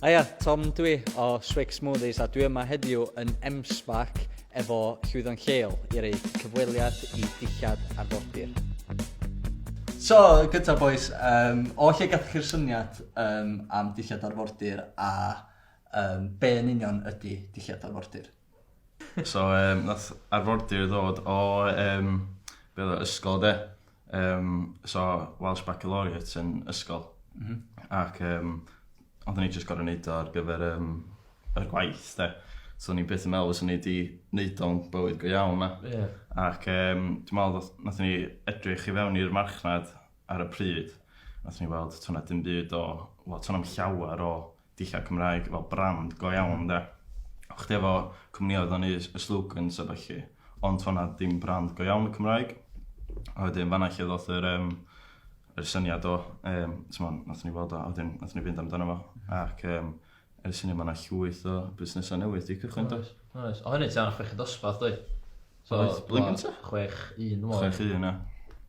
Aia, Tom dwi o Swig Smoothies a dwi yma heddiw yn MSPAC efo Llwyddo'n Lleol i rei cyfweliad i dillad arfordir. So, gyda boys, um, o lle gathoch chi'r syniad um, am dillad arfordir a um, be yn union ydy dillad arfordir? So yym nath arfordir ddod o yym be' o'dd o ysgol de? Yym so Welsh Baccalaureate yn ysgol. M-hm. Ac yym ond o'n i jyst gor'o' neud o ar gyfer yym y gwaith de? So o'n i byth yn meddwl fyswn i 'di neud o'n bywyd go iawn na? Ie. Ac yym dwi me'wl nath nathon ni edrych i fewn i'r marchnad ar y pryd nathon ni weld to' 'na dim byd o wel to' na'm llawer o Dillad Cymraeg fel brand go iawn de. O' chdi efo cwmnioedd o'n neud y slogans a ballu, ond to' 'na ddim brand go iawn y Cymraeg. A wedyn fanna lle ddoth yr yym yr syniad o yym t'mod nathon ni weld o a wedyn nathon ni fynd amdano fo ac yym ers hynny ma' 'na llwyth o busnesa newydd 'di cychwyn does? Oes oes. O' hynny tua chweched dosbarth doedd? So... Oedd blwyddyn gynta? Chwech un dwi me'wl. Chwech un ia.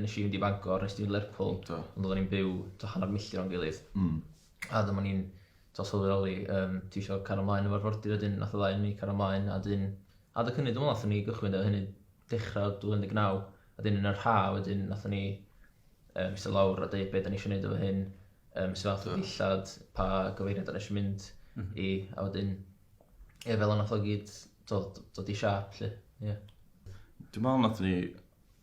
Nes i fynd i Fangor, nes ti fynd i Lerpwl. Do. Ond oedden ni'n byw t'o' hanner milltir o'n gilydd. Hmm. A dyma ni'n t'o' sylweddoli yym ti isio cario mlaen efo'r arfordir a 'dyn nath y ddau o ni cario mlaen a 'dyn adeg hynny dwi me'wl nathon ni gychwyn 'da hynny dechra 2019 a 'dyn yn yr ha' wedyn nathon ni yym iste lawr a deud be' 'dan ni isio neud efo hyn yym sut fath o dillad pa gyfeiriad 'dan ni isio mynd mhm. i a wedyn ie fel yna nath o gyd dod dod i siâp 'lly ie. Dwi me'wl nathon ni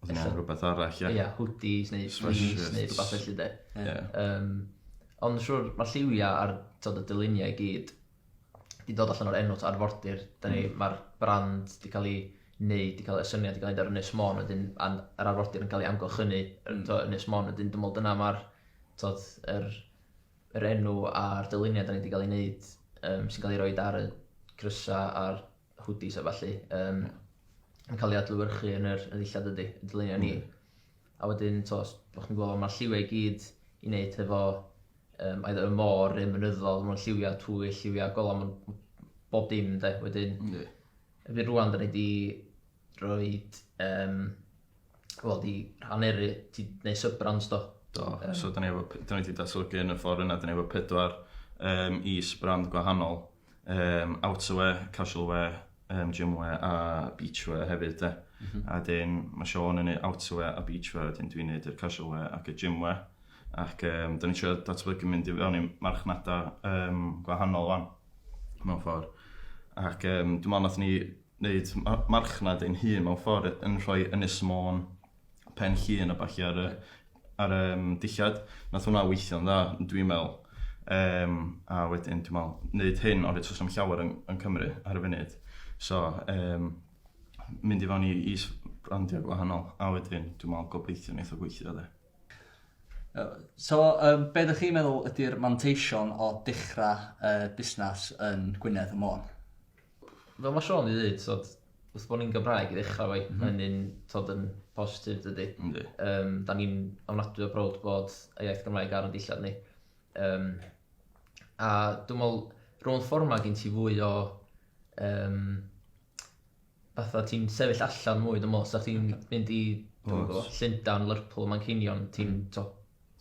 Oedd yna Ella. rhywbeth arall, ie? Ia, hoodies neu jeans Sweatshirts. neu rhywbeth felly de. Ie. Ie. Yym, ond yn siŵr, mae lliwiau a'r tod y dyluniau i gyd di dod allan o'r enw to, arfordir. Da ni, mae'r brand di cael ei wneud, di cael y syniad di cael ei wneud ar Ynys Môn wedyn, a'n yr arfordir yn cael ei amgylchynu yn to, Ynys Môn wedyn. Dwi'n meddwl dyna mae'r tod yr, yr enw a'r dyluniau da ni di cael ei wneud um, sy'n cael ei roed ar y crysau a'r hoodies a ballu, um, yn cael ei adlywyrchu yn yr ddillad ydy, y dyluniau ni. Mm. A wedyn, to, o'ch chi'n gweld, mae'r lliwiau i gyd i wneud hefo um, either y môr neu mynyddol, mae'n lliwiau twy, lliwiau golau, mae'n bob dim, de, wedyn. Mm. Efe rwan, da ni wedi rhoi, um, wel, di rhaneru, di wneud sub-brands do. Do, um, so da ni wedi datblygu yn y ffordd yna, da ni wedi pedwar um, is-brand gwahanol um, outerwear, casual wear, um, gymwear a beachwear hefyd de. Mm -hmm. A dyn, mae Sean yn neud outerwear a beachwear, a dyn dwi'n neud y casual wear ac y gymwear. Ac um, dyn ni'n trio datblygu mynd i fewn i marchnadau um, gwahanol o'n mewn ffordd. Ac um, dwi'n meddwl nath ni wneud marchnad ein hun mewn ffordd yn rhoi Ynys Môn pen llun a ballu ar y, ar y um, dillad. Nath hwnna weithio'n dda, dwi'n meddwl. Um, a wedyn, dwi'n meddwl, wneud hyn, ond eto sy'n llawer yn, yn Cymru ar y funud. So, um, mynd i fewn i, i brandiau gwahanol, a wedyn, dwi'n meddwl, gobeithio wneud o gweithio, dde. So, um, be ydych chi'n meddwl ydy'r manteision o dechrau uh, busnes yn Gwynedd y Môn? fel ma' Siôn 'di ddeud t'od wrth bo' ni'n Gymraeg i ddechra efo 'i... M-hm. ...ma' hynny'n t'od yn positif dydi? Yndi. Yym 'dan ni'n ofnadwy o browd bod y iaith Gymraeg ar 'n dillad ni. Yym a dwi me'wl rownd ffor 'ma gin ti fwy o yym fatha ti'n sefyll allan mwy dwi me'wl os sa chdi'n mynd i... Oes. ...dw'm yn gwbo Llundan, Lerpwl, Manceinion ti'n t'o'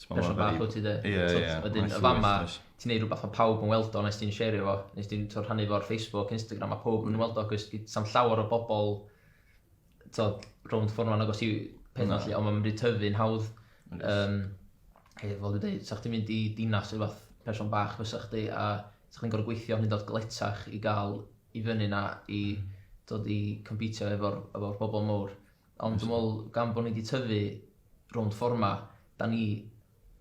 Person bach wyt ti de. Ie ie. T'od wedyn y fama ti'n neud rwbath ma' pawb yn weld o nes ti'n sherio fo nes ti'n t'o' rhannu fo ar Facebook Instagram ma' powb yn weld o acos gin sa'm llawer o bobol t'od rownd ffor 'ma'n agos i peth 'ma lly on' ma' mynd i tyfu'n hawdd yym hei fel dwi deud 'sa chdi'n mynd i dinas ne' wbath person bach fysa chdi a 'sa chdi'n gor'o' gweithio hyd yn o'd galetach i ga'l i fyny 'na i dod i compîtio efo'r efo'r bobol mowr. Ond dwi'n meddwl, gan bod ni 'di tyfu rownd ffordd 'ma, dan ni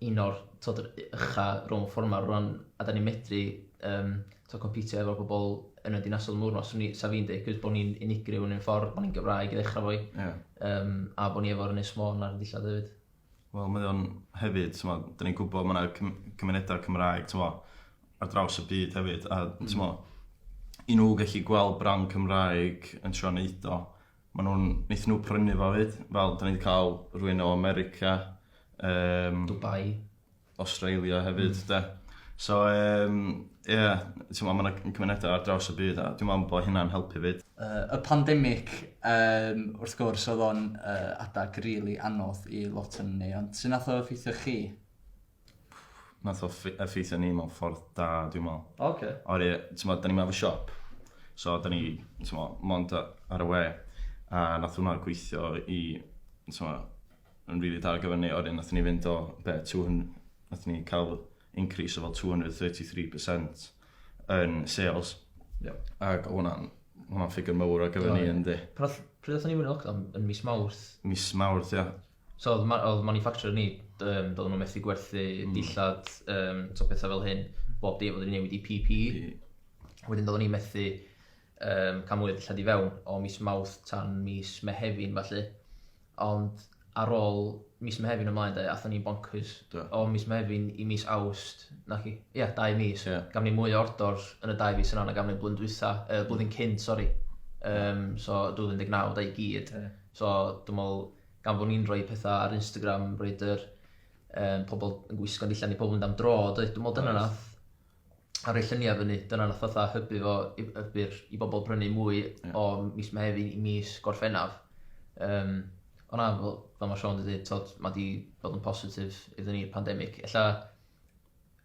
un o'r, tibod, yr ucha' rownd ffordd 'ma rŵan, a dan ni'n medru, yym, tibod, compîtio efo'r bobl yn y dinasoedd mawr 'ma. 'Swn i, 'sa fi'n deud, cos bo' ni'n unigryw yn ein ffordd, bo' ni'n Gymraeg i ddechrau efo hi, yym, a bo' ni efo'r Ynys Môn ar ein dillad hefyd. Wel, mae o'n hefyd, tibod, dan ni'n gwybod mae 'na cymunedau Cymraeg, tibod, ar draws y byd hefyd, a, tibod, i nhw gallu gweld brand Cymraeg yn trio wneud o, Mae nhw'n, wnaethon nhw prynu fo fyd, fel dan ni wedi cael rhywun o America, um, Dubai, Australia hefyd, mm. de. So, um, ie, yeah, ti'n meddwl, mae'n cymunedau ar draws y byd, a dwi'n meddwl bod hynna'n helpu fyd. Uh, y pandemig, um, wrth gwrs, oedd o'n uh, adag rili really anodd i lot yn ni, ond sy'n nath o effeithio chi? Nath o ffi- effeithio ni mewn ffordd da dwi'n me'wl. O oce. Oherwydd t'mod 'dan ni'm efo siop so 'dan ni t'mo' mond yy ar y we a nath hwnna gweithio i t'mo' yn rili da ar gyfar ni a wedyn nathon ni fynd o be' two hun- nathon ni ca'l increase o fel two hundred and thirty three percent yn sales. Iawn. Ag o' hwnna'n ma' hwnna'n ffigur mowr ar gyfar ni yndi? Pan nath pryd nathon ni fyn' i lockdown yn mis Mawrth? Mis Mawrth ia. So oedd ma- oedd manufacturer ni, yym, doedden nhw methu gwerthu hmm. dillad, um, so pethau fel hyn, bob dim, oedden ni newid i PP. Wedyn doedden ni methu um, cael mwy o dillad i fewn o mis Mawrth tan mis Mehefin falle. Ond ar ôl mis Mehefin ymlaen de, athyn ni bonkers. Do. O mis Mehefin i mis Awst, na chi? Ia, yeah, dau mis. Yeah. Gaf ni mwy o ordor yn y dau fis yna na gaf ni blwyddyn dwytha, uh, blwyddyn cyn, sori. Um, so 2019 da i gyd. Yeah. So dwi'n meddwl gan fod ni'n rhoi pethau ar Instagram, roed yr um, pobl yn gwisgo'n dillad ni, pobl yn mynd am dro, doedd, dwi'n meddwl dyna right. nath a rhoi lluniau fyny, dyna nath fatha hybu fo i, hybu'r, i bobl brynu mwy yeah. o mis Mehefin i mis Gorffennaf. Um, ond na, fel, fel mae Sean wedi dweud, mae wedi bod yn positif iddyn ni'r pandemig. Ella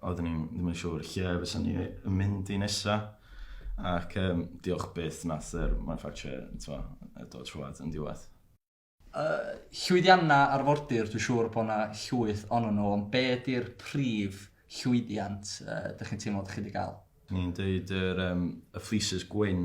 oeddwn ni ddim yn siŵr lle fysa ni yn mynd i nesa. Ac um, diolch byth nath yr manufacturer dod trwad yn diwedd. Uh, llwyddiannau arfordir, dwi'n siŵr bod yna llwyth onno nhw, ond be ydy'r prif llwyddiant uh, dych chi'n teimlo dych chi wedi cael? Ni'n dweud yr, um, y fleeces gwyn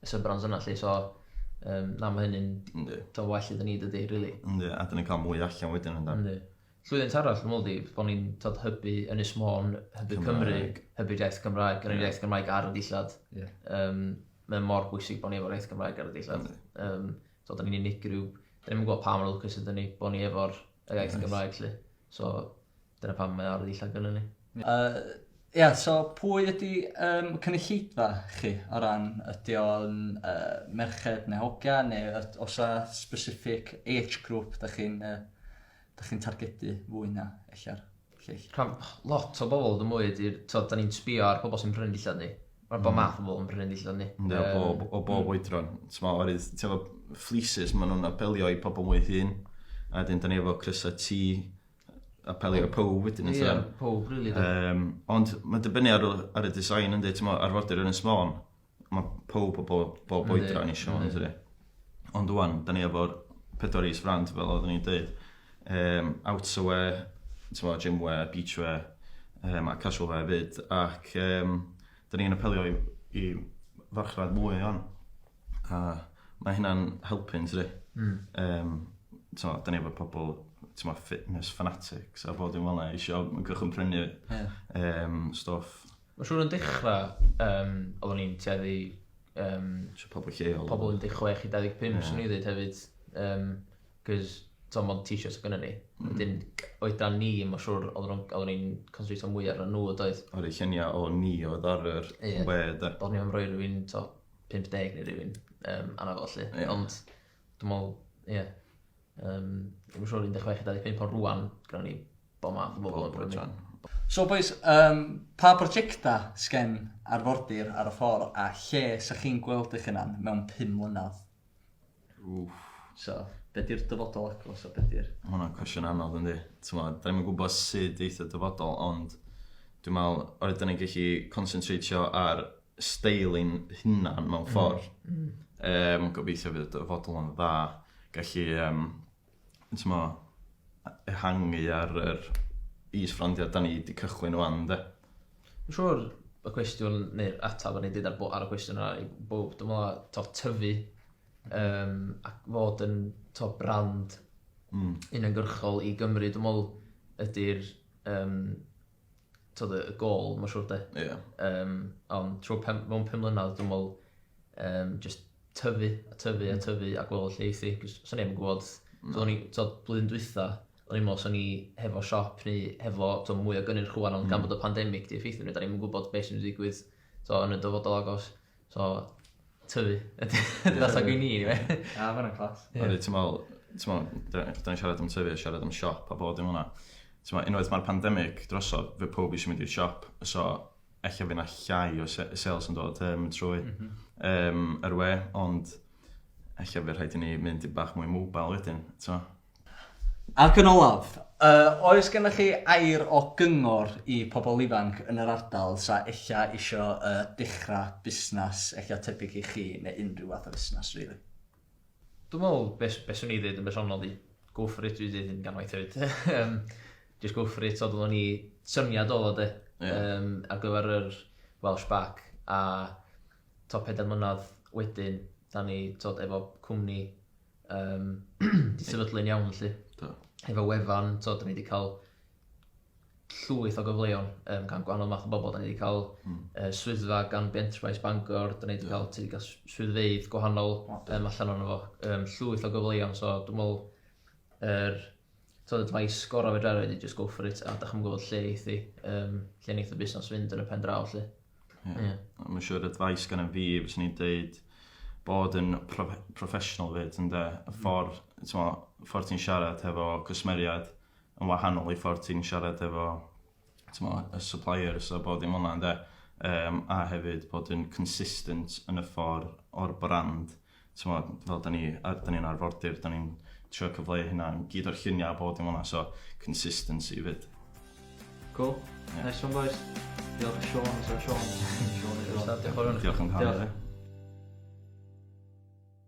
y sub-brands yna lly, so um, na mae hynny'n dod well iddyn ni dydy, really. Yndi, a dyn ni'n cael mwy allan wedyn ynddo. Yndi. Llwyddiant arall, dwi'n meddwl, bod ni'n tod hybu yn ysmôn, hybu Cymru, hybu iaith Gymraeg, yn yr iaith Gymraeg ar y dillad. Yeah. Um, mae mor bwysig bod ni efo'r iaith Gymraeg ar y dillad. Um, so, da ni'n unigryw, da ni'n gweld pa mor lwcus ydyn ni bod ni efo'r iaith Gymraeg, lle. So, Dyna pam mae o ar y dillad gynnon ni. Yy ia so pwy ydi yym cynulleidfa chi o ran ydi o'n yy merched ne' hogia ne' yd- o's 'a specific age group dach chi'n yy dach chi'n targedu fwy na ella'r lleill? Rhan lot o bobl yn mwy ydi'r t'od 'dan ni'n sbio ar pobl sy'n prynu'n dillad ni. Ma' bob math o bobl yn prynu'n dillad ni. Yndi o bob o bob oedran t'mo' oherwydd ti efo fleeces ma' nw'n apelio i pobl mwy hŷn a 'dyn 'dan ni efo crysa T apelio ar pob wedyn eto. Ie, pob rili. Um, ond mae'n dibynnu ar, ar y design ynddi, ti'n meddwl, arfordir yn y smôn, mae pob o bob, bob oedra yn eisiau hwn, ynddi. Ond wwan, da ni efo'r pedwar is frand, fel oeddwn i'n dweud, um, outerwear, ti'n meddwl, gymwear, beachwear, um, a casual wear fyd, ac um, da ni'n apelio i, i farchnad mwy o'n. A mae hynna'n helpu'n tydi? Mm. Um, so, da ni efo pobl tyma, fitness fanatics a bod yn fel yna eisiau gychwyn prynu yeah. um, stoff. Mae'n siŵr yn dechrau, um, oeddwn i'n teddu... Um, so pobl lleol. Pobl 16 i 25, yeah. swn i ddweud hefyd. Um, Cos, to, mod t-shirts o gyda ni. Mm. Wedyn, oedran ni, mae'n siŵr, oeddwn i'n consultio mwy ar nhw, doedd. O'r lluniau o ni oedd ar yr yeah. we, da. Oeddwn i'n rhoi rhywun, to, 50 neu rhywun um, arno fo, lle. Yeah. Ond, dwi'n meddwl, ie. Yeah. Um, dwi'n siŵr 16 a 25 ond rwan, gyda ni bo math o bobl yn brynu. So boys, um, pa prosiecta sgen arfordir ar y ffordd a lle sa chi'n gweld eich hunan mewn 5 mlynedd? Wff. So, be di'r dyfodol agos a be di'r... Mae hwnna'n cwestiwn anodd yndi. Timod, da ni'm yn gwybod sut eith y dyfodol, ond dwi'n meddwl, oherwydd da ni'n gallu concentratio ar steil ein hunan mewn mm, ffordd. Mm. Um, gobeithio fydd y dyfodol yn dda. Gallu um, t'mo, ehangu ar yr is-frandiau da ni wedi cychwyn wan, de. Dwi'n siŵr y cwestiwn, neu'r ateb o'n i wedi ar, ar y cwestiwn yna i bob, dwi'n meddwl, to, tyfu um, ac fod yn to, brand mm. uniongyrchol i Gymru, dwi'n meddwl ydy'r um, tyd, y gol, mae'n siwr de. Ie. Yeah. Um, ond trwy pem, mewn pum mlynedd, dwi'n meddwl, um, just tyfu, a tyfu, a mm. tyfu, a gweld lle eithi, cos sa'n neb yn gwybod, mm. o'n i, tyd, blwyddyn dwytha, o'n i'n meddwl, sa'n ni hefo siop, neu hefo, tyd, mwy o gynnyrch chwan, ond mm. gan bod y pandemig di effeithio ni, da ni'n gwybod beth sy'n digwydd, tyd, yn y dyfodol agos. So, tyfu. Ydy that's like we need, right? A, ah, fanna clas. Ydy, ti'n meddwl, ti'n meddwl, da ni'n siarad am tyfu, siarad am siop a bod yn hwnna. Ti'n meddwl, unwaith mae'r pandemig drosodd, fe pob eisiau mynd i'r siop, so eich fe na llai o sales yn dod um, trwy mm -hmm. um, yr we, ond eich fe rhaid i ni mynd i bach mwy mobile wedyn, ti'n meddwl? Ac yn olaf, oes gennych chi air o gyngor i pobl ifanc yn yr ardal sa ella isio dechrau busnes ella tebyg i chi neu unrhyw fath o fusnes rili? Dwi'n meddwl be be swn i ddeud yn bersonol ydi go for it dwi'n deud hyn gan waith hefyd yym jyst go for it t'od odd o'n i syniad odd o de yym ar gyfer yr Welsh Back a t'o' pedair mlynadd wedyn 'da ni t'od efo cwmni Yym, 'di sefydlu'n iawn felly. Do. Efo wefan, t'od, 'dan ni 'di cael llwyth o gyfleon um, gan gwahanol math o bobl. Da ni wedi cael mm. uh, swyddfa gan Enterprise Bangor, da ni wedi cael, ti wedi cael swyddfeydd gwahanol um, allan o'n fo, um, llwyth o gyfleon, so dwi'n meddwl, er, tod, mae sgoro fe drafod i just go for it, a da chi'n gwybod lle eithi, um, lle neith y busnes fynd yn y pen draw, lle. Ie. Ie. Mae'n ma' siŵr advice gan fi fyswn i'n deud bod yn prof- professional 'fyd ynde? Y hmm. ffordd t'mo' y ffordd ti'n siarad hefo cwsmeriaid yn wahanol i ffordd ti'n siarad efo t'mo' y suppliers a bod dim fel 'na ynde? Yym a hefyd bod yn consistent yn y ffordd o'r brand t'mod fel 'dan ni a- 'dan ni'n arfordir 'dan ni'n trio cyfleu hynna i gyd o'r llunia' a bob dim fel 'na so consistency 'fyd. Cŵl. Ie. Nice one bois. Diolch i Siôn os yw o'n Siôn. Siôn yw o. Diolch am canu 'de. Diolch.